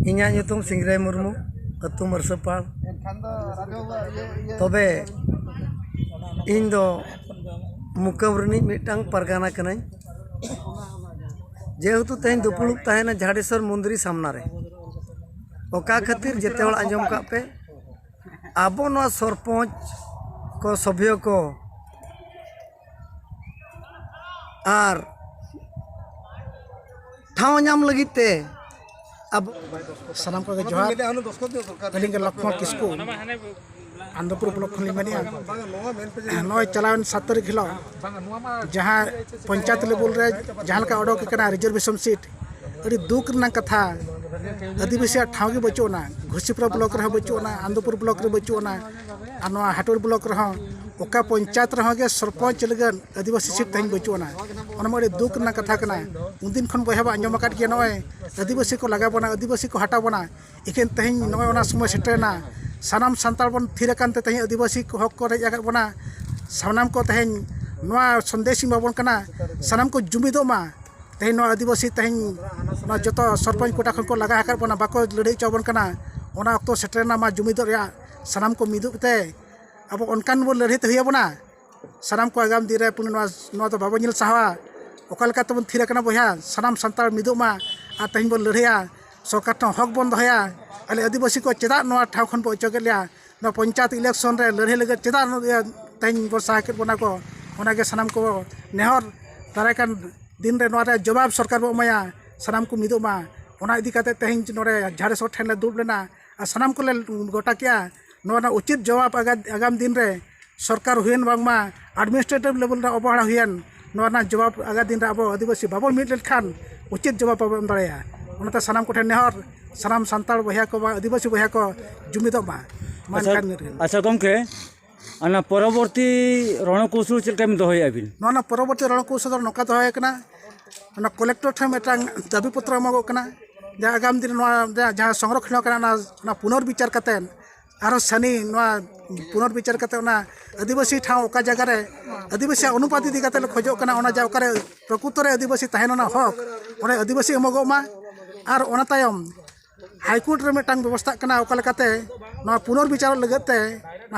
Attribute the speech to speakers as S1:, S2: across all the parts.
S1: ᱤᱧᱟᱹᱜ ᱧᱩᱛᱩᱢ ᱥᱤᱝᱨᱟᱭ ᱢᱩᱨᱢᱩ ᱟᱹᱛᱩ ᱢᱟᱹᱨᱥᱟᱹᱯᱟᱲ ᱛᱚᱵᱮ ᱤᱧ ᱫᱚ ᱢᱩᱠᱟᱹᱢ ᱨᱤᱱᱤᱡ ᱢᱤᱫᱴᱟᱝ ᱯᱟᱨᱜᱟᱱᱟ ᱠᱟᱹᱱᱟᱹᱧ ᱡᱮᱦᱮᱛᱩ ᱛᱮᱦᱮᱧ ᱫᱩᱯᱩᱲᱩᱵ ᱛᱟᱦᱮᱱᱟ ᱡᱷᱟᱰᱮᱥᱥᱚᱨ ᱢᱚᱱᱫᱤᱨ ᱥᱟᱢᱱᱟ ᱨᱮ ᱚᱠᱟ ᱠᱷᱟᱹᱛᱤᱨ ᱡᱮᱛᱮ ᱦᱚᱲ ᱟᱸᱡᱚᱢ ᱠᱟᱜ ᱯᱮ ᱟᱵᱚ ᱱᱚᱣᱟ ᱥᱚᱨᱯᱚᱧᱡᱽ ᱠᱚ ᱥᱚᱵᱷᱮ ᱠᱚ ᱟᱨ ᱴᱷᱟᱶ ᱧᱟᱢ ᱞᱟᱹᱜᱤᱫ ᱛᱮ ᱟᱵᱚ ᱥᱟᱱᱟᱢ
S2: ᱠᱚᱜᱮ ᱡᱚᱦᱟᱨ ᱟᱹᱞᱤᱧ ᱜᱮ ᱞᱚᱠᱠᱷᱚᱱ ᱠᱤᱥᱠᱩ ᱟᱱᱫᱚᱯᱩᱨ ᱵᱞᱚᱠ ᱠᱷᱚᱱ ᱞᱤᱧ ᱢᱮᱱᱮᱜᱼᱟ ᱱᱚᱜᱼᱚᱭ ᱪᱟᱞᱟᱣᱮᱱ ᱥᱟᱛ ᱛᱟᱹᱨᱤᱠᱷ ᱦᱤᱞᱳᱜ ᱡᱟᱦᱟᱸ ᱯᱚᱧᱪᱟᱭᱮᱛ ᱞᱮᱵᱮᱞ ᱨᱮ ᱡᱟᱦᱟᱸ ᱞᱮᱠᱟ ᱚᱰᱚᱠ ᱟᱠᱟᱱᱟ ᱨᱤᱡᱟᱨᱵᱷᱮᱥᱚᱱ ᱥᱤᱴ ᱟᱹᱰᱤ ᱫᱩᱠ ᱨᱮᱱᱟᱜ ᱠᱟᱛᱷᱟ ᱟᱹᱫᱤᱵᱟᱹᱥᱤᱭᱟᱜ ᱴᱷᱟᱶ ᱜᱮ ᱵᱟᱹᱪᱩᱜ ᱟᱱᱟ ᱜᱷᱩᱥᱤᱯᱩᱨᱟ ᱵᱞᱚᱠ ᱨᱮᱦᱚᱸ ᱵᱟᱹᱪᱩᱜ ᱟᱱᱟ ᱟᱱᱫᱚᱯᱩᱨ ᱵᱞᱚᱠ ᱨᱮ ᱵᱟᱹᱪᱩᱜ ᱟᱱᱟ ᱟᱨ ᱱᱚᱣᱟ ᱦᱟᱴᱩᱲ ᱵᱞᱚᱠ ᱨᱮᱦᱚᱸ ᱚᱠᱟ ᱯᱚᱧᱪᱟᱭᱮᱛ ᱨᱮᱦᱚᱸ ᱜᱮ ᱥᱚᱨᱯᱚᱧᱪ ᱞᱟᱹᱜᱤᱫ ᱟᱹᱫᱤᱵᱟᱹᱥᱤ ᱥᱤᱴ ᱛᱮᱦᱮᱧ ᱵᱟᱹᱪᱩᱜ ᱟᱱᱟ ᱚᱱᱟ ᱢᱟ ᱟᱹᱰᱤ ᱫᱩᱠ ᱨᱮᱱᱟᱜ ᱠᱟᱛᱷᱟ ᱠᱟᱱᱟ ᱩᱱᱫᱤᱱ ᱠᱷᱚᱱ ᱵᱚᱭᱦᱟ ᱵᱚᱱ ᱟᱸᱡᱚᱢ ᱟᱠᱟᱫ ᱜᱮᱭᱟ ᱱᱚᱜᱼᱚᱭ ᱟᱹᱫᱤᱵᱟᱹᱥᱤ ᱠᱚ ᱞᱟᱜᱟ ᱵᱚᱱᱟ ᱟᱹᱫᱤᱵᱟᱹᱥᱤ ᱠᱚ ᱦᱟᱴᱟᱣ ᱵᱚᱱᱟ ᱮᱠᱮᱱ ᱛᱮᱦᱮᱧ ᱱᱚᱜᱼᱚᱭ ᱚᱱᱟ ᱥᱚᱢᱚᱭ ᱥᱮᱴᱮᱨᱮᱱᱟ ᱥᱟᱱᱟᱢ ᱥᱟᱱᱛᱟᱲ ᱵᱚᱱ ᱛᱷᱤᱨ ᱟᱠᱟᱱ ᱛᱮ ᱛᱮᱦᱮᱧ ᱟᱹᱫᱤᱵᱟᱹᱥᱤ ᱠᱚ ᱦᱚᱠ ᱠᱚ ᱨᱮᱡ ᱟᱠᱟᱫ ᱵᱚᱱᱟ ᱥᱟᱱᱟᱢ ᱠᱚ ᱛᱮᱦᱮᱧ ᱱᱚᱣᱟ ᱥᱚᱱᱫᱮᱥ ᱤᱧ ᱮᱢᱟᱵᱚᱱ ᱠᱟᱱᱟ ᱥᱟᱱᱟᱢ ᱠᱚ ᱡᱩᱢᱤᱫᱚᱜ ᱢᱟ ᱛᱮᱦᱮᱧ ᱱᱚᱣᱟ ᱟᱹᱫᱤᱵᱟᱹᱥᱤ ᱛᱮᱦᱮᱧ ᱱᱚᱣᱟ ᱡᱚᱛᱚ ᱥᱚᱨᱯᱚᱧᱪ ᱠᱚᱴᱟ ᱠᱷᱚᱱ ᱠᱚ ᱞᱟᱜᱟ ᱟᱠᱟᱫ ᱵᱚᱱᱟ ᱵᱟᱠᱚ ᱞᱟᱹᱲᱦᱟᱹᱭ ᱦᱚᱪᱚ ᱟᱵᱚᱱ ᱠᱟᱱᱟ ᱚᱱᱟ ᱚᱠᱛᱚ ᱥᱮᱴᱮᱨᱮᱱᱟ ᱢᱟ ᱡᱩᱢᱤᱫᱚᱜ ᱨᱮᱭᱟᱜ ᱥᱟᱱᱟᱢ ᱠᱚ ᱢᱤᱫᱚᱜ ᱛᱮ ᱟᱵᱚ ᱚᱱᱠᱟᱱ ᱵᱚᱱ ᱞᱟᱹᱲᱦᱟᱹᱭ ᱛᱮ ᱦᱩᱭ ᱟᱵᱚᱱᱟ ᱥᱟᱱᱟᱢ ᱠᱚ ᱟᱜᱟᱢ ᱫᱤᱱ ᱨᱮ ᱱᱚᱣᱟ ᱫᱚ ᱵᱟᱵᱚᱱ ᱧᱮᱞ ᱥᱟᱦᱟᱣᱟ ᱚᱠᱟ ᱞᱮᱠᱟ ᱛᱮᱵᱚᱱ ᱛᱷᱤᱨ ᱟᱠᱟᱱᱟ ᱵᱚᱭᱦᱟ ᱥᱟᱱᱟᱢ ᱥᱟᱱᱛᱟᱲ ᱢᱤᱫᱚᱜ ᱢᱟ ᱟᱨ ᱛᱮᱦᱮᱧ ᱵᱚᱱ ᱞᱟᱹᱲᱦᱟᱹᱭᱟ ᱥᱚᱨᱠᱟᱨ ᱴᱷᱮᱱ ᱦᱚᱠ ᱵᱚᱱ ᱫᱚᱦᱚᱭᱟ ᱟᱞᱮ ᱟᱹᱫᱤᱵᱟᱹᱥᱤ ᱠᱚ ᱪᱮᱫᱟᱜ ᱱᱚᱣᱟ ᱴᱷᱟᱶ ᱠᱷᱚᱱ ᱠᱚ ᱚᱪᱚ ᱠᱮᱜ ᱞᱮᱭᱟ ᱱᱚᱣᱟ ᱯᱚᱧᱪᱟᱭᱮᱛ ᱤᱞᱮᱠᱥᱚᱱ ᱨᱮ ᱞᱟᱹᱲᱦᱟᱹᱭ ᱞᱟᱹᱜᱤᱫ ᱪᱮᱫᱟᱜ ᱛᱮᱦᱮᱧ ᱠᱚ ᱥᱟᱦᱟ ᱠᱮᱜ ᱵᱚᱱᱟ ᱠᱚ ᱚᱱᱟᱜᱮ ᱥᱟᱱᱟᱢ ᱠᱚ ᱱᱮᱦᱚᱨ ᱫᱟᱨᱟᱭ ᱠᱟᱱ ᱫᱤᱱ ᱨᱮ ᱱᱚᱣᱟ ᱨᱮᱭᱟᱜ ᱡᱚᱵᱟᱵ ᱥᱚᱨᱠᱟᱨ ᱵᱚᱱ ᱮᱢᱟᱭᱟ ᱥᱟᱱᱟᱢ ᱠᱚ ᱢᱤᱫᱚᱜ ᱢᱟ ᱚᱱᱟ ᱤᱫᱤ ᱠᱟᱛᱮ ᱛᱮᱦᱮᱧ ᱱᱚᱰᱮ ᱡᱟᱦᱮᱨ ᱥᱚᱨ ᱴᱷᱮᱱ ᱞᱮ ᱫᱩᱲᱩᱵ ᱞᱮᱱᱟ ᱟᱨ ᱥᱟᱱᱟᱢ ᱠᱚᱞᱮ ᱜᱚᱴᱟ ᱠᱮᱜᱼᱟ ᱱᱚᱣᱟ ᱨᱮᱱᱟᱜ ᱩᱪᱤᱛ ᱡᱚᱵᱟᱵᱽ ᱟᱜᱟᱢ ᱫᱤᱱ ᱨᱮ ᱥᱚᱨᱠᱟᱨ ᱦᱩᱭᱮᱱ ᱵᱟᱝᱢᱟ ᱟᱰᱢᱤᱱᱤᱥᱴᱨᱮᱴᱤᱵᱷ ᱞᱮᱵᱮᱞ ᱨᱮ ᱚᱵᱚᱦᱮᱲᱟ ᱦᱩᱭᱮᱱ ᱱᱚᱣᱟ ᱨᱮᱱᱟᱜ ᱡᱚᱵᱟᱵᱽ ᱟᱜᱟᱢ ᱫᱤᱱ ᱨᱮ ᱟᱵᱚ ᱟᱹᱫᱤᱵᱟᱹᱥᱤ ᱵᱟᱵᱚᱱ ᱢᱤᱫ ᱞᱮᱱᱠᱷᱟᱱ ᱩᱪᱤᱛ ᱡᱚᱵᱟᱵᱽ ᱵᱟᱵᱚᱱ ᱮᱢ ᱫᱟᱲᱮᱭᱟᱜᱼᱟ ᱚᱱᱟᱛᱮ ᱥᱟᱱᱟᱢ ᱠᱚᱴᱷᱮᱱ ᱱᱮᱦᱚᱨ ᱥᱟᱱᱟᱢ ᱥᱟᱱᱛᱟᱲ ᱵᱚᱭᱦᱟ ᱠᱚ ᱵᱟᱝ ᱟᱹᱫᱤᱵᱟᱹᱥᱤ ᱵᱚᱭᱦᱟ ᱠᱚ ᱡᱩᱢᱤᱫᱚᱜ ᱢᱟ ᱟᱪᱪᱷᱟ
S3: ᱜᱚᱢᱠᱮ ᱚᱱᱟ ᱯᱚᱨᱚᱵᱚᱨᱛᱤ ᱨᱚᱱᱚᱠᱳᱣᱥᱚᱞ ᱪᱮᱫ ᱞᱮᱠᱟ ᱵᱤᱱ ᱫᱚᱦᱚᱭᱮᱜᱼᱟ ᱵᱤᱱ ᱱᱚᱣᱟ ᱨᱮᱱᱟᱜ ᱯᱚᱨᱚᱵᱚᱨᱛᱤ ᱨᱚᱱᱚᱠᱳᱣᱥᱚᱞ
S2: ᱫᱚ ᱱᱚᱝᱠᱟ ᱫᱚᱦᱚ ᱦᱩᱭ ᱠᱟᱱᱟ ᱚᱱᱟ ᱠᱚᱞᱮᱠᱴᱚᱨ ᱴᱷᱮᱱ ᱢᱤᱫᱴᱟᱝ ᱫᱟᱹᱵᱤ ᱯᱚᱛᱨᱚ ᱮᱢᱚᱜᱚᱜ ᱠᱟᱱᱟ ᱡᱟᱦᱟᱸ ᱟᱜᱟᱢ ᱫᱤᱱ ᱱᱚᱣᱟ ᱡᱟᱦᱟᱸ ᱥᱚᱝᱨᱚᱠᱠᱷᱚᱱ ᱠᱟᱱᱟ ᱚᱱᱟ ᱚᱱᱟ ᱯᱩᱱᱚᱨ ᱵᱤᱪᱟᱨ ᱠᱟᱛᱮᱫ ᱟᱨᱚ ᱥᱟᱱᱤ ᱱᱚᱣᱟ ᱯᱩᱱᱚᱨ ᱵᱤᱪᱟᱨ ᱠᱟᱛᱮᱫ ᱚᱱᱟ ᱟᱹᱫᱤᱵᱟᱹᱥᱤ ᱴᱷᱟᱶ ᱚᱠᱟ ᱡᱟᱭᱜᱟ ᱨᱮ ᱟᱹᱫᱤᱵᱟᱹᱥᱤᱭᱟᱜ ᱚᱱᱩᱯᱟᱛ ᱤᱫᱤ ᱠᱟᱛᱮᱫ ᱞᱮ ᱠᱷᱚᱡᱚᱜ ᱠᱟᱱᱟ ᱚᱱᱟ ᱡᱟᱭᱜᱟ ᱚᱠᱟᱨᱮ ᱯᱨᱚᱠᱩᱛᱚ ᱨᱮ ᱟᱹᱫᱤᱵᱟᱹᱥᱤ ᱛᱟᱦᱮᱱ ᱨᱮᱱᱟᱜ ᱦᱚᱸᱠ ᱚᱸᱰᱮ ᱟᱹᱫᱤᱵᱟᱹᱥᱤ ᱮᱢᱚᱜᱚᱜ ᱢᱟ ᱟᱨ ᱚᱱᱟ ᱛᱟᱭᱚᱢ ᱦᱟᱭᱠᱳᱨᱴ ᱨᱮ ᱢᱤᱫᱴᱟᱝ ᱵᱮᱵᱚᱥᱛᱷᱟᱜ ᱠᱟᱱᱟ ᱚᱠᱟ ᱞᱮᱠᱟᱛᱮ ᱱᱚᱣᱟ ᱯᱩᱱᱚᱨ ᱵᱤᱪᱟᱨ ᱞᱟᱹᱜᱤᱫ ᱛᱮ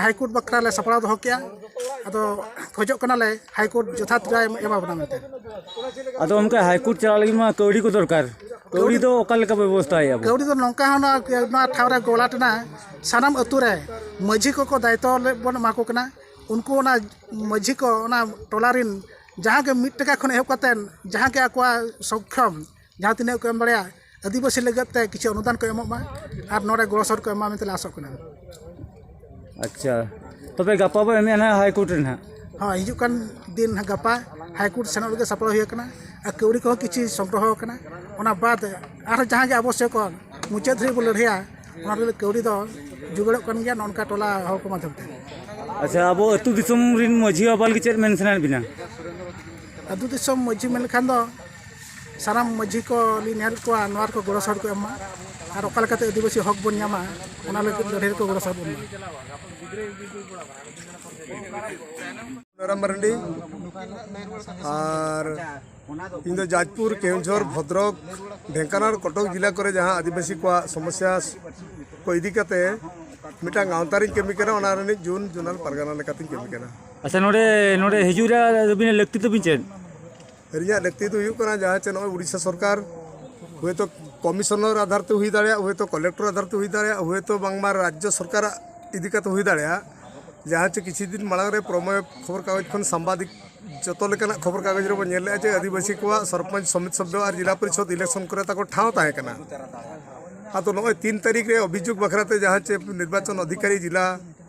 S2: ᱦᱟᱭᱠᱳᱨᱴ ᱵᱟᱠᱷᱨᱟ ᱞᱮ ᱥᱟᱯᱲᱟᱣ ᱫᱚᱦᱚ ᱠᱮᱜᱼᱟ ᱟᱫᱚ ᱠᱷᱚᱡᱚᱜ ᱠᱟᱱᱟᱞᱮ ᱦᱟᱭᱠᱳᱨᱴ ᱡᱚᱛᱷᱟᱛ ᱨᱟᱭ ᱮᱢᱟ ᱵᱚᱱᱟ ᱢᱮᱱᱛᱮ ᱟᱫᱚ ᱚᱱᱠᱟ
S3: ᱦᱟᱭᱠᱳᱨᱴ ᱪᱟᱞᱟᱜ ᱞᱟᱹᱜᱤᱫ ᱢᱟ ᱠᱟᱹᱣᱰᱤ ᱠᱚ ᱫᱚᱨᱠᱟᱨ ᱠᱟᱹᱣᱰᱤ ᱫᱚ ᱚᱠᱟ ᱞᱮᱠᱟ ᱵᱮᱵᱚᱥᱛᱷᱟᱭᱟ ᱠᱟᱹᱣᱰᱤ ᱫᱚ ᱱᱚᱝᱠᱟ ᱦᱚᱸ
S2: ᱱᱚᱣᱟ ᱴᱷᱟᱶ ᱨᱮ ᱜᱚᱞᱟ ᱴᱮᱱᱟ ᱥᱟᱱᱟᱢ ᱟᱹᱛᱩ ᱨᱮ ᱢᱟᱹᱡᱷᱤ ᱠᱚᱠᱚ ᱫᱟᱭᱤᱛᱛᱚ ᱵᱚᱱ ᱮᱢᱟ ᱠᱚ ᱠᱟᱱᱟ ᱩᱱᱠᱩ ᱚᱱᱟ ᱢᱟᱹᱡᱷᱤ ᱠᱚ ᱚᱱᱟ ᱴᱚᱞᱟ ᱨᱮᱱ ᱡᱟᱦᱟᱸ ᱜᱮ ᱢᱤᱫ ᱴᱟᱠᱟ ᱠᱷᱚᱱ ᱮᱦᱚᱵ ᱠᱟᱛᱮᱫ ᱡᱟᱦᱟᱸ ᱜᱮ ᱟᱠᱚᱣᱟᱜ ᱥᱚᱠᱠᱷᱚᱢ ᱡᱟᱦᱟᱸ ᱛᱤᱱᱟᱹᱜ ᱜᱮᱠᱚ ᱮᱢ ᱫᱟᱲᱮᱭᱟᱜ ᱟᱹᱫᱤᱵᱟᱹᱥᱤ ᱞᱟᱹᱜᱤᱫ ᱛᱮ ᱠᱤᱪᱷᱩ ᱚᱱᱩᱫᱟᱱ ᱠᱚ ᱮᱢᱚᱜ ᱢᱟ ᱟᱨ ᱱᱚᱰᱮ ᱜᱚᱲᱚ ᱥᱚᱦᱚᱫ ᱠᱚ ᱮᱢ ᱢᱟ ᱢᱮᱱᱛᱮ ᱞᱮ ᱟᱥᱚᱜ ᱠᱟᱱᱟ
S3: ᱟᱪᱪᱷᱟ ᱛᱚᱵᱮ ᱜᱟᱯᱟ ᱵᱚᱱ ᱮᱢᱮᱜᱼᱟ ᱱᱟᱦᱟᱜ ᱦᱟᱭ ᱠᱳᱨᱴ ᱨᱮ ᱱᱟᱦᱟᱜ ᱦᱚᱸ ᱦᱤᱡᱩᱜ ᱠᱟᱱ
S2: ᱫᱤᱱ ᱱᱟᱦᱟᱜ ᱜᱟᱯᱟ ᱦᱟᱭ ᱠᱳᱨᱴ ᱥᱮᱱᱚᱜ ᱞᱟᱹᱜᱤᱫ ᱥᱟᱯᱲᱟᱣ ᱦᱩᱭ ᱟᱠᱟᱱᱟ ᱟᱨ ᱠᱟᱹᱣᱰᱤ ᱠᱚᱦᱚᱸ ᱠᱤᱪᱷᱩ ᱥᱚᱝᱜᱨᱚᱦᱚ ᱟᱠᱟᱱᱟ ᱚᱱᱟ ᱵᱟᱫ ᱟᱨᱦᱚᱸ ᱡᱟᱦᱟᱸ ᱜᱮ ᱟᱵᱚᱥᱥᱚᱠ ᱦᱚᱸ ᱢᱩᱪᱟᱹᱫ ᱫᱷᱟᱹᱨᱤᱡ ᱵᱚᱱ ᱞᱟᱹᱲᱦᱟᱹᱭᱟ ᱚᱱᱟ ᱞᱟᱹᱜᱤᱫ ᱠᱟᱹᱣᱰᱤ ᱫᱚ ᱡᱳᱜᱟᱲᱚᱜ ᱠᱟᱱ ᱜᱮᱭᱟ ᱱᱚᱝᱠᱟ ᱴᱚᱞᱟ ᱦᱚᱲ ᱠᱚ ᱢᱟᱫᱽᱫᱷᱚᱢ ᱛᱮ ᱟᱪᱪᱷᱟ ᱟᱵᱚ
S3: ᱟᱹᱛᱩ ᱫᱤᱥᱚᱢ ᱨᱮᱱ ᱢᱟᱺᱡᱷᱤ ᱵᱟᱵᱟ ᱞᱟᱹᱜᱤᱫ ᱪᱮᱫ ᱢᱮᱱ ᱥᱟᱱᱟᱭᱮᱫ ᱵᱮᱱᱟ ᱟᱹᱛᱩ
S2: ᱫᱤᱥᱚᱢ ᱢᱟᱺᱡᱷᱤ ᱢᱮᱱ ᱞᱮᱠᱷᱟᱱ ᱫᱚ ᱥᱟᱱᱟᱢ ᱢᱟᱹᱡᱷᱤ ᱠᱚ ᱞᱤᱧ ᱱᱮᱦᱚᱨᱮᱫ ᱠᱚᱣᱟ ᱱᱚᱣᱟ ᱨᱮᱠᱚ ᱜᱚᱲᱚ ᱥᱚᱦᱚᱫ ᱠᱚ ᱮᱢ ᱢᱟ ᱟᱨ ᱚᱠᱟ ᱞᱮᱠᱟᱛᱮ ᱟᱹᱫᱤᱵᱟᱹᱥᱤ ᱦᱚᱠ ᱵᱚᱱ ᱧᱟᱢᱟ ᱚᱱᱟ ᱞᱟᱹᱜᱤᱫ ᱞᱟᱹᱲᱦᱟᱹᱭ ᱨᱮᱠᱚ ᱜᱚᱲᱚ ᱥᱚᱦᱚᱫ ᱵᱚᱱ
S4: ᱢᱟ ᱨᱟᱢ ᱢᱟᱨᱟᱱᱰᱤ ᱟᱨ ᱤᱧ ᱫᱚ ᱡᱟᱡᱽᱯᱩᱨ ᱠᱮᱣᱡᱷᱚᱨ ᱵᱷᱚᱫᱨᱚᱠ ᱰᱷᱮᱝᱠᱟᱱᱟᱲ ᱠᱚᱴᱚᱠ ᱡᱮᱞᱟ ᱠᱚᱨᱮ ᱡᱟᱦᱟᱸ ᱟᱹᱫᱤᱵᱟᱹᱥᱤ ᱠᱚᱣᱟᱜ ᱥᱚᱢᱚᱥᱥᱟ ᱠᱚ ᱤᱫᱤ ᱠᱟᱛᱮ ᱢᱤᱫᱴᱟᱝ ᱜᱟᱶᱛᱟ ᱨᱤᱧ ᱠᱟᱹᱢᱤ ᱠᱟᱱᱟ ᱚᱱᱟ ᱨᱤᱱᱤᱡ ᱡᱩᱱ ᱡᱚᱱᱟᱞ ᱯᱟᱨᱜᱟᱱᱟ ᱞᱮᱠᱟᱛᱤᱧ ᱠᱟᱹᱢᱤ ᱠᱟᱱᱟ ᱟᱪᱪᱷᱟ ᱱᱚᱰᱮ
S3: ᱱᱚᱰᱮ ᱦᱤᱡᱩᱜ ᱨᱮ ᱟᱹᱵᱤᱱᱟᱜ ᱞᱟᱹᱠᱛᱤ ᱛᱟᱹᱵᱤᱱ ᱪᱮᱫ ᱨᱮᱭᱟᱜ
S4: ᱞᱟᱹᱠᱛᱤ ᱫᱚ ᱦᱩᱭᱩᱜ ᱠᱟᱱᱟ ᱡᱟᱦᱟᱸ ᱪᱮ ᱱᱚᱜᱼᱚᱭ ᱩᱲᱤᱥᱥᱟ ᱥᱚᱨᱠᱟᱨ ᱦᱳᱭᱛᱳ ᱠᱚᱢᱤᱥᱚᱱᱟᱨ ᱟᱫᱷᱟᱨ ᱛᱮ ᱦᱩᱭ ᱫᱟᱲᱮᱭᱟᱜᱼᱟ ᱦᱳᱭᱛᱳ ᱠᱚᱞᱮᱠᱴᱚᱨ ᱟᱫᱷᱟᱨ ᱛᱮ ᱦᱩᱭ ᱫᱟᱲᱮᱭᱟᱜᱼᱟ ᱦᱳᱭᱛᱳ ᱵᱟᱝᱢᱟ ᱨᱟᱡᱽᱡᱚ ᱥᱚᱨᱠᱟᱨᱟᱜ ᱤᱫᱤ ᱠᱟᱛᱮ ᱦᱩᱭ ᱫᱟᱲᱮᱭᱟᱜᱼᱟ ᱡᱟᱦᱟᱸ ᱪᱮ ᱠᱤᱪᱷᱩ ᱫᱤᱱ ᱢᱟᱲᱟᱝ ᱨᱮ ᱯᱨᱚᱢᱮᱭ ᱠᱷᱚᱵᱚᱨ ᱠᱟᱜᱚᱡᱽ ᱠᱷᱚᱱ ᱥᱟᱢᱵᱟᱫᱤᱠ ᱡᱚᱛᱚ ᱞᱮᱠᱟᱱᱟᱜ ᱠᱷᱚᱵᱚᱨ ᱠᱟᱜᱚᱡᱽ ᱨᱮᱵᱚᱱ ᱧᱮᱞ ᱞᱮᱜᱼᱟ ᱡᱮ ᱟᱹᱫᱤᱵᱟᱹᱥᱤ ᱠᱚᱣᱟᱜ ᱥᱚᱨᱯᱚᱧᱪ ᱥᱚᱢᱤᱛ ᱥᱚᱵᱽᱫᱚ ᱟᱨ ᱡᱤᱞᱟ ᱯᱚᱨᱤᱥᱚᱫᱽ ᱤᱞᱮᱠᱥᱚᱱ ᱠᱚᱨᱮ ᱛᱟᱠᱚ ᱴᱷᱟᱶ ᱛᱟᱦᱮᱸ ᱠᱟᱱᱟ ᱟᱫᱚ ᱱᱚᱜᱼᱚᱭ ᱛᱤᱱ ᱛᱟᱹᱨᱤᱠᱷ ᱨᱮ ᱚᱵᱷᱤᱡᱳᱜᱽ ᱵᱟᱠᱷᱨᱟ ᱛᱮ ᱡᱟᱦᱟᱸ ᱪᱮ ᱱᱤᱨᱵᱟᱪᱚᱱ ᱚᱫᱷᱤᱠᱟᱨᱤ ᱡᱤᱞᱟ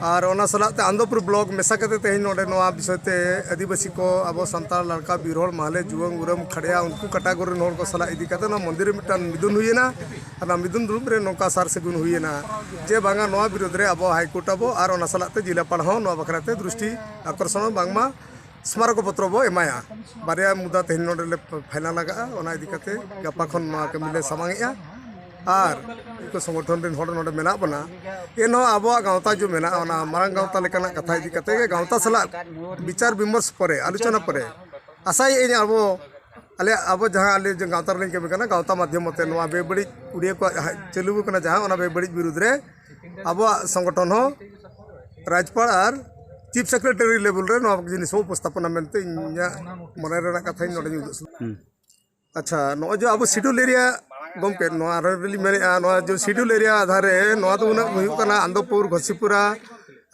S4: ᱟᱨ ᱚᱱᱟ ᱥᱟᱞᱟᱜ ᱛᱮ ᱟᱱᱫᱚᱯᱩᱨ ᱵᱞᱚᱠ ᱢᱮᱥᱟ ᱠᱟᱛᱮ ᱛᱮᱦᱮᱧ ᱱᱚᱰᱮ ᱱᱚᱣᱟ ᱵᱤᱥᱚᱭ ᱛᱮ ᱟᱹᱫᱤᱵᱟᱹᱥᱤ ᱠᱚ ᱟᱵᱚ ᱥᱟᱱᱛᱟᱲ ᱞᱟᱲᱠᱟ ᱵᱤᱨ ᱦᱚᱲ ᱢᱟᱦᱞᱮ ᱡᱩᱣᱟᱹᱝ ᱩᱨᱟᱹᱢ ᱠᱷᱟᱲᱭᱟ ᱩᱱᱠᱩ ᱠᱟᱴᱟᱜᱚᱨ ᱨᱮᱱ ᱦᱚᱲ ᱠᱚ ᱥᱟᱞᱟᱜ ᱤᱫᱤ ᱠᱟᱛᱮ ᱱᱚᱣᱟ ᱢᱚᱱᱫᱤᱨ ᱨᱮ ᱢᱤᱫᱴᱟᱝ ᱢᱤᱫᱩᱱ ᱦᱩᱭᱮᱱᱟ ᱟᱨ ᱱᱚᱣᱟ ᱢᱤᱫᱩᱱ ᱫᱩᱲᱩᱵ ᱨᱮ ᱱᱚᱝᱠᱟ ᱥᱟᱨ ᱥᱟᱹᱜᱩᱱ ᱦᱩᱭᱮᱱᱟ ᱡᱮ ᱵᱟᱝᱟ ᱱᱚᱣᱟ ᱵᱤᱨᱳᱫᱷ ᱨᱮ ᱟᱵᱚ ᱦᱟᱭᱠᱳᱨᱴ ᱟᱵᱚ ᱟᱨ ᱚᱱᱟ ᱥᱟᱞᱟᱜ ᱛᱮ ᱡᱤᱞᱟᱯᱟᱲ ᱦᱚᱸ ᱱᱚᱣᱟ ᱵᱟᱠᱷᱨᱟ ᱛᱮ ᱫᱨᱤᱥᱴᱤ ᱟᱠᱚᱨᱥᱚᱱ ᱵᱟᱝᱢᱟ ᱥᱢᱟᱨᱚᱠ ᱯᱚᱛᱨᱚ ᱵᱚ ᱮᱢᱟᱭᱟ ᱵᱟᱨᱭᱟ ᱢᱩᱫᱟ ᱛᱮᱦᱮᱧ ᱱᱚᱰᱮ ᱞᱮ ᱯᱷᱟᱭᱱᱟᱞ ᱟᱠᱟᱜᱼᱟ ᱚᱱᱟ ᱤᱫᱤ ᱠᱟᱛᱮ ᱜᱟᱯᱟ ᱠᱷᱚᱱ ᱱᱚᱣᱟ ᱠᱟᱹᱢᱤ ᱞᱮ ᱥᱟᱢᱟᱝ ᱮᱜᱼᱟ ᱟᱨ ᱩᱱᱠᱩ ᱥᱚᱢᱚᱨᱛᱷᱚᱱ ᱨᱮᱱ ᱦᱚᱲ ᱱᱚᱰᱮ ᱢᱮᱱᱟᱜ ᱵᱚᱱᱟ ᱮᱱᱦᱚᱸ ᱟᱵᱚᱣᱟᱜ ᱜᱟᱶᱛᱟ ᱡᱮ ᱢᱮᱱᱟᱜᱼᱟ ᱚᱱᱟ ᱢᱟᱨᱟᱝ ᱜᱟᱶᱛᱟ ᱞᱮᱠᱟᱱᱟᱜ ᱠᱟᱛᱷᱟ ᱤᱫᱤ ᱠᱟᱛᱮ ᱜᱮ ᱜᱟᱶᱛᱟ ᱥᱟᱞᱟᱜ ᱵᱤᱪᱟᱨ ᱵᱤᱢᱚᱨᱥ ᱯᱚᱨᱮ ᱟᱞᱳᱪᱚᱱᱟ ᱯᱚᱨᱮ ᱟᱥᱟᱭᱮᱫᱼᱟᱹᱧ ᱟᱵᱚ ᱟᱞᱮ ᱟᱵᱚ ᱡᱟᱦᱟᱸ ᱟᱞᱮ ᱜᱟᱶᱛᱟ ᱨᱮᱞᱤᱧ ᱠᱟᱹᱢᱤ ᱠᱟᱱᱟ ᱜᱟᱶᱛᱟ ᱢᱟᱫᱽᱫᱷᱚᱢ ᱛᱮ ᱱᱚᱣᱟ ᱵᱮᱵᱟᱹᱲᱤᱡ ᱩᱰᱤᱭᱟᱹ ᱠᱚᱣᱟᱜ ᱡᱟᱦᱟᱸ ᱪᱟᱹᱞᱩ ᱟᱠᱟᱱᱟ ᱡᱟᱦᱟᱸ ᱚᱱᱟ ᱵᱮᱵᱟᱹᱲᱤᱡ ᱵᱤᱨᱩᱫᱷ ᱨᱮ ᱟᱵᱚᱣᱟᱜ ᱥᱚᱝᱜᱚᱴᱷᱚᱱ ᱦᱚᱸ ᱨᱟᱡᱽᱯᱟᱲ ᱟᱨ ᱪᱤᱯ ᱥᱮᱠᱨᱮᱴᱟᱨᱤ ᱞᱮᱵᱮᱞ ᱨᱮ ᱱᱚᱣᱟ ᱡᱤᱱᱤᱥ ᱦᱚᱸ ᱩᱯᱚᱥᱛᱷᱟᱯᱚᱱᱟ ᱢᱮᱱᱛᱮ ᱤᱧᱟᱹᱜ ᱢᱚᱱᱮ ᱨᱮᱱᱟᱜ ᱠᱟᱛᱷᱟᱧ ᱱᱚᱰᱮᱧ ᱩᱫᱩᱜ ᱥᱚᱫᱚᱨ ᱟᱪᱪᱷᱟ ᱱᱚᱜᱼᱚᱭ ᱡᱮ ᱟᱵᱚ ᱥᱤᱰᱩᱞ ᱮᱨᱤᱭᱟ ᱜᱚᱢᱠᱮ ᱱᱚᱣᱟ ᱨᱮᱞᱤᱧ ᱢᱮᱱᱮᱫᱼᱟ ᱱᱚᱣᱟ ᱡᱮ ᱥᱤᱰᱩᱞ ᱮᱨᱤᱭᱟ ᱟᱫᱷᱟᱨ ᱨᱮ ᱱᱚᱣᱟ ᱫᱚ ᱩᱱᱟᱹᱜ ᱦᱩᱭᱩᱜ ᱠᱟᱱᱟ ᱟᱱᱚᱱᱫᱚᱯᱩᱨ ᱜᱷᱚᱥᱤᱯᱩᱨᱟ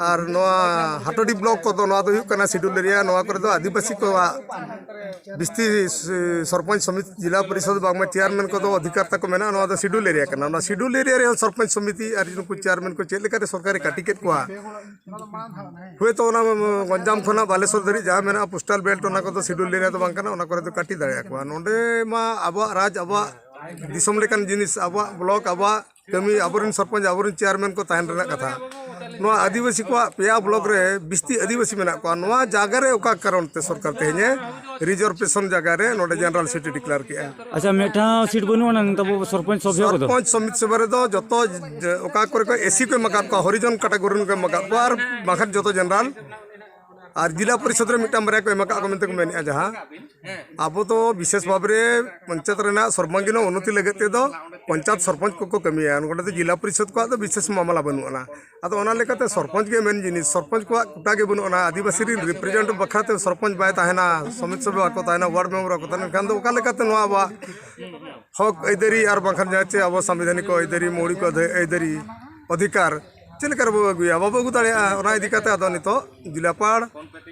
S4: ᱟᱨ ᱱᱚᱣᱟ ᱦᱟᱴᱳᱰᱤ ᱵᱞᱚᱠ ᱠᱚᱫᱚ ᱱᱚᱣᱟ ᱫᱚ ᱦᱩᱭᱩᱜ ᱠᱟᱱᱟ ᱥᱤᱰᱩᱞ ᱮᱨᱤᱭᱟ ᱱᱚᱣᱟ ᱠᱚᱨᱮ ᱫᱚ ᱟᱹᱫᱤᱵᱟᱹᱥᱤ ᱠᱚᱣᱟᱜ ᱵᱤᱥᱛᱤ ᱥᱚᱨᱯᱚᱧᱡᱽ ᱥᱚᱢᱤᱛᱤ ᱡᱮᱞᱟ ᱯᱚᱨᱤᱥᱚᱫᱽ ᱵᱟᱝᱢᱟ ᱪᱮᱭᱟᱨᱢᱮᱱ ᱠᱚᱫᱚ ᱚᱫᱷᱤᱠᱟᱨ ᱛᱟᱠᱚ ᱢᱮᱱᱟᱜᱼᱟ ᱱᱚᱣᱟ ᱫᱚ ᱥᱤᱰᱩᱞ ᱮᱨᱤᱭᱟ ᱠᱟᱱᱟ ᱱᱚᱣᱟ ᱥᱤᱰᱩᱞ ᱮᱨᱤᱭᱟ ᱨᱮ ᱥᱚᱨᱯᱚᱧᱡᱽ ᱥᱚᱢᱤᱛᱤ ᱟᱨ ᱱᱩᱠᱩ ᱪᱮᱭᱟᱨᱢᱮᱱ ᱠᱚ ᱪᱮᱫ ᱞᱮᱠᱟᱛᱮ ᱥᱚᱨᱠᱟᱨᱮ ᱠᱟᱹᱴᱤ ᱠᱮᱫ ᱠᱚᱣᱟ ᱦᱳᱭ ᱛᱚ ᱚᱱᱟ ᱜᱚᱧᱡᱟᱢ ᱠᱷᱚᱱᱟᱜ ᱵᱟᱞᱮᱥᱚᱨ ᱫᱷᱟᱹᱨᱤᱡ ᱡᱟᱦᱟᱸ ᱢᱮᱱᱟᱜᱼᱟ ᱯᱳᱥᱴᱟᱞ ᱵᱮᱞᱴ ᱚᱱᱟ ᱠᱚᱫᱚ ᱥᱤᱰᱩᱞ ᱮᱨᱤᱭᱟ ᱫᱚ ᱵᱟᱝ ᱠᱟᱱᱟ ᱚᱱᱟ ᱠᱚᱨᱮ ᱫᱚ ᱠᱟᱹᱴᱤ ᱫᱟᱲᱮᱭᱟᱠᱚᱣᱟ ᱱᱚᱰᱮ ᱢᱟ ᱟᱵᱚᱣᱟᱜ ᱨᱟᱡᱽ ᱟᱵᱚᱣᱟᱜ ᱫᱤᱥᱚᱢ ᱞᱮᱠᱟᱱ ᱡᱤᱱᱤᱥ ᱟᱵᱚᱣᱟᱜ ᱵᱞᱚᱠ ᱟᱵᱚᱣᱟᱜ ᱠᱟᱹᱢᱤ ᱟᱵᱚᱨᱮᱱ ᱥᱚᱨᱯᱚᱧᱪ ᱟᱵᱚᱨᱮᱱ ᱪᱮᱭᱟᱨᱢᱮᱱ ᱠᱚ ᱛᱟᱦᱮᱱ ᱨᱮᱱᱟᱜ ᱠᱟᱛᱷᱟ ᱱᱚᱣᱟ ᱟᱹᱫᱤᱵᱟᱹᱥᱤ ᱠᱚᱣᱟᱜ ᱯᱮᱭᱟ ᱵᱞᱚᱠ ᱨᱮ ᱵᱤᱥᱛᱤ ᱟᱹᱫᱤᱵᱟᱹᱥᱤ ᱢᱮᱱᱟᱜ ᱠᱚᱣᱟ ᱱᱚᱣᱟ ᱡᱟᱭᱜᱟ ᱨᱮ ᱚᱠᱟ ᱠᱟᱨᱚᱱ ᱛᱮ ᱥᱚᱨᱠᱟᱨ ᱛᱮᱦᱮᱧᱮ ᱨᱤᱡᱟᱨᱵᱷᱮᱥᱚᱱ ᱡᱟᱭᱜᱟ ᱨᱮ ᱱᱚᱰᱮ ᱡᱮᱱᱟᱨᱮᱞ ᱥᱤᱴᱤ ᱰᱤᱠᱞᱮᱭᱟᱨ ᱠᱮᱜᱼᱟ ᱟᱪᱪᱷᱟ ᱢᱤᱫᱴᱟᱝ ᱥᱤᱴ
S3: ᱵᱟᱹᱱᱩᱜ ᱟᱱᱟ ᱱᱤᱛᱚᱜ ᱟᱵᱚ ᱥᱚᱨᱯᱚᱧᱪ ᱥᱚᱵᱷᱭᱚ ᱠᱚᱫᱚ ᱥᱚᱨᱯᱚᱧᱪ ᱥᱚᱢᱤᱛ ᱥᱚᱵᱷᱟ ᱨᱮᱫᱚ
S4: ᱡᱚᱛᱚ ᱡᱮ- ᱚᱠᱟ ᱠᱚᱨᱮ ᱠᱚ ᱮᱥᱤ ᱠᱚ ᱮᱢ ᱟᱠᱟᱫ ᱠᱚᱣᱟ ᱦᱚᱨᱤᱡᱚᱱ ᱠᱟᱴᱟᱜᱚᱨᱤ ᱨᱮᱱ ᱠᱚ ᱮᱢ ᱟᱠᱟᱫ ᱠᱚᱣᱟ ᱟᱨ ᱵᱟᱝᱠᱷᱟᱱ ᱡᱚᱛᱚ ᱡᱮᱱᱟᱨᱟᱞ ᱟᱨ ᱡᱤᱞᱟ ᱯᱚᱨᱤᱥᱚᱫ ᱨᱮ ᱢᱤᱫᱴᱟᱝ ᱵᱟᱨᱭᱟ ᱠᱚ ᱮᱢ ᱟᱠᱟᱫ ᱠᱚ ᱢᱮᱱᱛᱮ ᱠᱚ ᱢᱮᱱᱮᱫᱼᱟ ᱡᱟᱦᱟᱸ ᱟᱵᱚ ᱫᱚ ᱵᱤᱥᱮᱥ ᱵᱷᱟᱵᱽ ᱨᱮ ᱯᱚᱧᱪᱟᱭᱮᱛ ᱨᱮᱱᱟᱜ ᱥᱚᱨᱵᱟᱝᱜᱤᱱ ᱩᱱᱱᱚᱛᱤ ᱞᱟᱹᱜᱤᱫ ᱛᱮᱫᱚ ᱯᱚᱧᱪᱟᱭᱮᱛ ᱥᱚᱨᱯᱚᱧᱪ ᱠᱚᱠᱚ ᱠᱟᱹᱢᱤᱭᱟ ᱱᱚᱸᱰᱮ ᱫᱚ ᱡᱤᱞᱟ ᱯᱚᱨᱤᱥᱚᱫ ᱠᱚᱣᱟᱜ ᱫᱚ ᱵᱤᱥᱮᱥ ᱢᱟᱢᱞᱟ ᱵᱟᱹᱱᱩᱜ ᱟᱱᱟ ᱟᱫᱚ ᱚᱱᱟ ᱞᱮᱠᱟᱛᱮ ᱥᱚᱨᱯᱚᱧᱪ ᱜᱮ ᱢᱮᱱ ᱡᱤᱱᱤᱥ ᱥᱚᱨᱯᱚᱧᱪ ᱠᱚᱣᱟᱜ ᱠᱳᱴᱟ ᱜᱮ ᱵᱟᱹᱱᱩᱜ ᱟᱱᱟ ᱟᱹᱫᱤᱵᱟᱹᱥᱤ ᱨᱮᱱ ᱨᱤᱯᱨᱮᱡᱮᱱᱴ ᱵᱟᱠᱷᱨᱟᱛᱮ ᱥᱚᱨᱯᱚᱧᱪ ᱵᱟᱭ ᱛᱟᱦᱮᱱᱟ ᱥᱚᱢᱤᱛ ᱥᱚᱵᱷᱟ ᱵᱟᱠᱚ ᱛᱟᱦᱮᱱᱟ ᱚᱣᱟᱨᱰ ᱢᱮᱢᱵᱟᱨ ᱵᱟᱠᱚ ᱛᱟᱦᱮᱱᱟ ᱮᱱᱠᱷᱟᱱ ᱫᱚ ᱚᱠᱟ ᱞᱮᱠᱟᱛᱮ ᱱᱚᱣᱟ ᱟᱵᱚᱣᱟᱜ ᱦᱚᱸᱠ ᱟᱹᱭᱫᱟᱹᱨᱤ ᱟᱨ ᱵᱟᱝᱠᱷᱟᱱ ᱡᱟᱦᱟᱸ ᱪᱮ ᱟᱵᱚ ᱥᱟᱝᱵᱤᱫᱷᱟᱱᱤᱠ ᱟᱹᱭᱫᱟᱹᱨᱤ ᱢᱳᱣᱞᱤᱠ ᱟᱹᱭᱫᱟᱹᱨᱤ ᱚᱫᱷᱤᱠᱟᱨ ᱪᱮᱫ ᱞᱮᱠᱟ ᱨᱮᱵᱚ ᱟᱹᱜᱩᱭᱟ ᱵᱟᱵᱚ ᱟᱹᱜᱩ ᱫᱟᱲᱮᱭᱟᱜᱼᱟ ᱚᱱᱟ ᱤᱫᱤ ᱠᱟᱛᱮᱫ ᱟᱫᱚ ᱱᱤᱛᱚᱜ ᱡᱤᱞᱟᱯᱟᱲ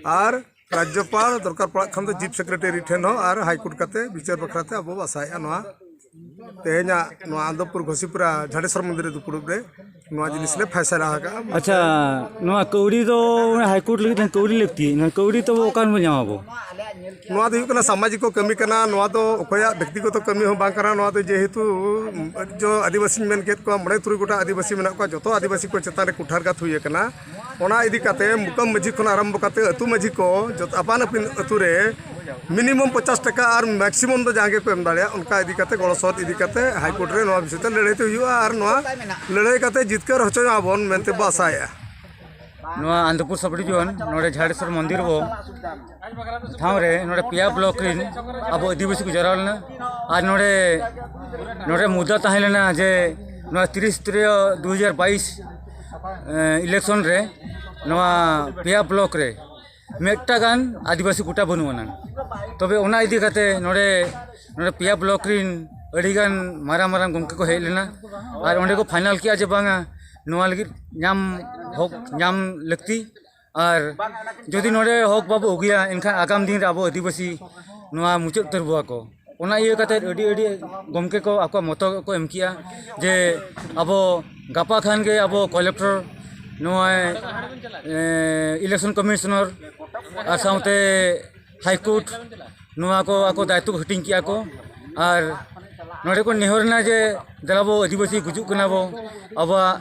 S4: ᱟᱨ ᱨᱟᱡᱽᱡᱚᱯᱟᱲ ᱫᱚᱨᱠᱟᱨ ᱯᱟᱲᱟᱜ ᱠᱷᱟᱱ ᱫᱚ ᱪᱤᱯ ᱥᱮᱠᱨᱮᱴᱟᱨᱤ ᱴᱷᱮᱱ ᱦᱚᱸ ᱟᱨ ᱦᱟᱭ ᱠᱳᱨᱴ ᱠᱟᱛᱮ ᱵᱤᱪᱟᱹᱨ ᱵᱟᱠᱷᱨᱟ ᱛᱮ ᱟᱵᱚ ᱟᱥᱟᱭᱮᱜᱼᱟ ᱱᱚᱣᱟ ᱛᱮᱦᱮᱧᱟᱜ ᱱᱚᱣᱟ ᱟᱱᱫᱚᱯᱩᱨ ᱜᱷᱚᱥᱤᱯᱩᱨᱟ ᱡᱷᱟᱰᱮᱥᱚᱨ ᱢᱚᱱᱫᱤᱨ ᱨᱮ ᱫᱩᱯᱲᱩᱵ ᱨᱮ ᱱᱚᱣᱟ ᱡᱤᱱᱤᱥ ᱞᱮ ᱯᱷᱟᱭᱥᱟᱞᱟ ᱟᱠᱟᱜᱼᱟ ᱟᱪᱪᱷᱟ
S3: ᱱᱚᱣᱟ ᱠᱟᱹᱣᱰᱤ ᱫᱚ ᱦᱟᱭ ᱠᱳᱨᱴ ᱞᱟᱹᱜᱤᱫ ᱛᱮ ᱠᱟᱹᱣᱰᱤ ᱞᱟᱹᱠᱛᱤ ᱱᱚᱣᱟ ᱠᱟᱹᱣᱰᱤ ᱛᱚ ᱚᱠᱟ ᱨᱮᱵᱚᱱ ᱧᱟᱢᱟ ᱟᱵᱚ ᱱᱚᱣᱟ ᱫᱚ
S4: ᱦᱩᱭᱩᱜ ᱠᱟᱱᱟ ᱥᱟᱢᱟᱡᱤᱠ ᱠᱚ ᱠᱟᱹᱢᱤ ᱠᱟᱱᱟ ᱱᱚᱣᱟ ᱫᱚ ᱚᱠᱚᱭᱟᱜ ᱵᱮᱠᱛᱤᱜᱚᱛᱚ ᱠᱟᱹᱢᱤ ᱦᱚᱸ ᱵᱟᱝ ᱠᱟᱱᱟ ᱱᱚᱣᱟ ᱫᱚ ᱡᱮᱦᱮᱛᱩ ᱡᱚ ᱟᱹᱫᱤᱵᱟᱹᱥᱤᱧ ᱢᱮᱱ ᱠᱮᱫ ᱠᱚᱣᱟ ᱢᱚᱬᱮ ᱛᱩᱨᱩᱭ ᱜᱚᱴᱟᱝ ᱟᱹᱫᱤᱵᱟᱹᱥᱤ ᱢᱮᱱᱟᱜ ᱠᱚᱣᱟ ᱡᱚᱛᱚ ᱟᱹᱫᱤᱵᱟᱹᱥᱤ ᱠᱚ ᱪᱮᱛᱟᱱ ᱨᱮ ᱠᱩᱴᱷᱟᱨᱜᱷᱟᱛ ᱦᱩᱭ ᱟᱠᱟᱱᱟ ᱚᱱᱟ ᱤᱫᱤ ᱠᱟᱛᱮ ᱢᱩᱠᱟᱢ ᱢᱟᱹᱡᱷᱤ ᱠᱷᱚᱱ ᱟᱨᱟᱢᱵᱷᱚ ᱠᱟᱛᱮ ᱟᱹᱛᱩ ᱢᱟᱹᱡᱷᱤ ᱠᱚ ᱡᱚᱛᱚ ᱟᱯᱟᱱ ᱟᱹᱯᱤᱱ ᱟᱹᱛᱩ ᱨᱮ ᱢᱤᱱᱤᱢᱟᱢ ᱯᱚᱪᱟᱥ ᱴᱟᱠᱟ ᱟᱨ ᱢᱮᱠᱥᱤᱢᱟᱢ ᱫᱚ ᱡᱟᱦᱟᱸ ᱜᱮᱠᱚ ᱮᱢ ᱫᱟᱲᱮᱭᱟᱜᱼᱟ ᱚᱱᱠᱟ ᱤᱫᱤ ᱠᱟᱛᱮ ᱜᱚᱲᱚ ᱥᱚᱦᱚᱫ ᱤᱫᱤ ᱠᱟᱛᱮ ᱦᱟᱭᱠᱳᱨᱴ ᱨᱮ ᱱᱚᱣᱟ ᱵᱤᱥᱚᱭ ᱛᱮ ᱞᱟᱹᱲᱦᱟᱹᱭ ᱛᱮ ᱦᱩᱭᱩᱜᱼᱟ ᱟᱨ ᱱᱚᱣᱟ ᱞᱟᱹᱲᱦᱟᱹᱭ ᱠᱟᱛᱮ ᱡᱤᱛᱠᱟᱹᱨ ᱦᱚᱪᱚᱭ ᱟᱵᱚᱱ ᱢᱮᱱᱛᱮ ᱵᱚ ᱟᱥᱟᱭᱮᱜᱼᱟ
S3: ᱱᱚᱣᱟ ᱟᱱᱚᱱᱫᱯᱩᱨ ᱥᱟᱵᱽ ᱰᱤᱵᱷᱤᱡᱚᱱ ᱱᱚᱰᱮ ᱡᱷᱟᱲᱮᱥᱥᱚᱨ ᱢᱚᱱᱫᱤᱨ ᱵᱚ ᱴᱷᱟᱶ ᱨᱮ ᱱᱚᱰᱮ ᱯᱮᱭᱟ ᱵᱞᱚᱠ ᱨᱮᱱ ᱟᱵᱚ ᱟᱹᱫᱤᱵᱟᱹᱥᱤ ᱠᱚ ᱡᱟᱣᱨᱟ ᱞᱮᱱᱟ ᱟᱨ ᱱᱚᱰᱮ ᱱᱚᱰᱮ ᱢᱩᱫᱽᱫᱟ ᱛᱟᱦᱮᱸ ᱞᱮᱱᱟ ᱡᱮ ᱱᱚᱣᱟ ᱛᱤᱨᱤᱥ ᱛᱨᱤᱭᱚ ᱫᱩ ᱦᱟᱡᱟᱨ ᱵᱟᱭᱤᱥ ᱤᱞᱮᱠᱥᱚᱱ ᱨᱮ ᱱᱚᱣᱟ ᱯᱮᱭᱟ ᱵᱞᱚᱠ ᱨᱮ ᱢᱤᱫᱴᱟ ᱜᱟᱱ ᱟᱹᱫᱤᱵᱟᱹᱥᱤ ᱠᱳᱴᱟ ᱵᱟᱹᱱᱩᱜ ᱟᱱᱟᱝ ᱛᱚᱵᱮ ᱚᱱᱟ ᱤᱫᱤ ᱠᱟᱛᱮ ᱱᱚᱰᱮ ᱱᱚᱰᱮ ᱯᱮᱭᱟ ᱵᱞᱚᱠ ᱨᱮᱱ ᱟᱹᱰᱤᱜᱟᱱ ᱢᱟᱨᱟᱝ ᱢᱟᱨᱟᱝ ᱜᱚᱢᱠᱮ ᱠᱚ ᱦᱮᱡ ᱞᱮᱱᱟ ᱟᱨ ᱚᱸᱰᱮ ᱠᱚ ᱯᱷᱟᱭᱱᱟᱞ ᱠᱮᱜᱼᱟ ᱡᱮ ᱵᱟᱝᱟ ᱱᱚᱣᱟ ᱞᱟᱹᱜᱤᱫ ᱧᱟᱢ ᱦᱚᱠ ᱧᱟᱢ ᱞᱟᱹᱠᱛᱤ ᱟᱨ ᱡᱩᱫᱤ ᱱᱚᱰᱮ ᱦᱚᱠ ᱵᱟᱵᱚ ᱟᱹᱜᱩᱭᱟ ᱮᱱᱠᱷᱟᱱ ᱟᱜᱟᱢ ᱫᱤᱱ ᱨᱮ ᱟᱵᱚ ᱟᱹᱫᱤᱵᱟᱹᱥᱤ ᱱᱚᱣᱟ ᱢᱩᱪᱟᱹᱫ ᱩᱛᱟᱹᱨ ᱵᱚᱣᱟ ᱠᱚ ᱚᱱᱟ ᱤᱭᱟᱹ ᱠᱟᱛᱮ ᱟᱹᱰᱤ ᱟᱹᱰᱤ ᱜᱚᱢᱠᱮ ᱠᱚ ᱟᱠᱚᱣᱟᱜ ᱢᱚᱛᱚ ᱠᱚ ᱮᱢ ᱠᱮᱜᱼᱟ ᱡᱮ ᱟᱵᱚ ᱜᱟᱯᱟ ᱠᱷᱟᱱ ᱜᱮ ᱟᱵᱚ ᱠᱚᱞᱮᱠᱴᱚᱨ ᱱᱚᱜᱼᱚᱭ ᱤᱞᱮᱠᱥᱚᱱ ᱠᱚᱢᱤᱥᱚᱱᱟᱨ ᱟᱨ ᱥᱟᱶᱛᱮ ᱦᱟᱭᱠᱳᱨᱴ ᱱᱚᱣᱟ ᱠᱚ ᱟᱠᱚ ᱫᱟᱭᱤᱛᱛᱚ ᱠᱚ ᱦᱟᱹᱴᱤᱧ ᱠᱮᱜᱼᱟ ᱠᱚ ᱟᱨ ᱱᱚᱰᱮ ᱠᱚ ᱱᱮᱦᱚᱨ ᱮᱱᱟ ᱡᱮ ᱫᱮᱞᱟ ᱵᱚ ᱟᱹᱫᱤᱵᱟᱹᱥᱤ ᱜᱩᱡᱩᱜ ᱠᱟᱱᱟ ᱵᱚ ᱟᱵᱚᱣᱟᱜ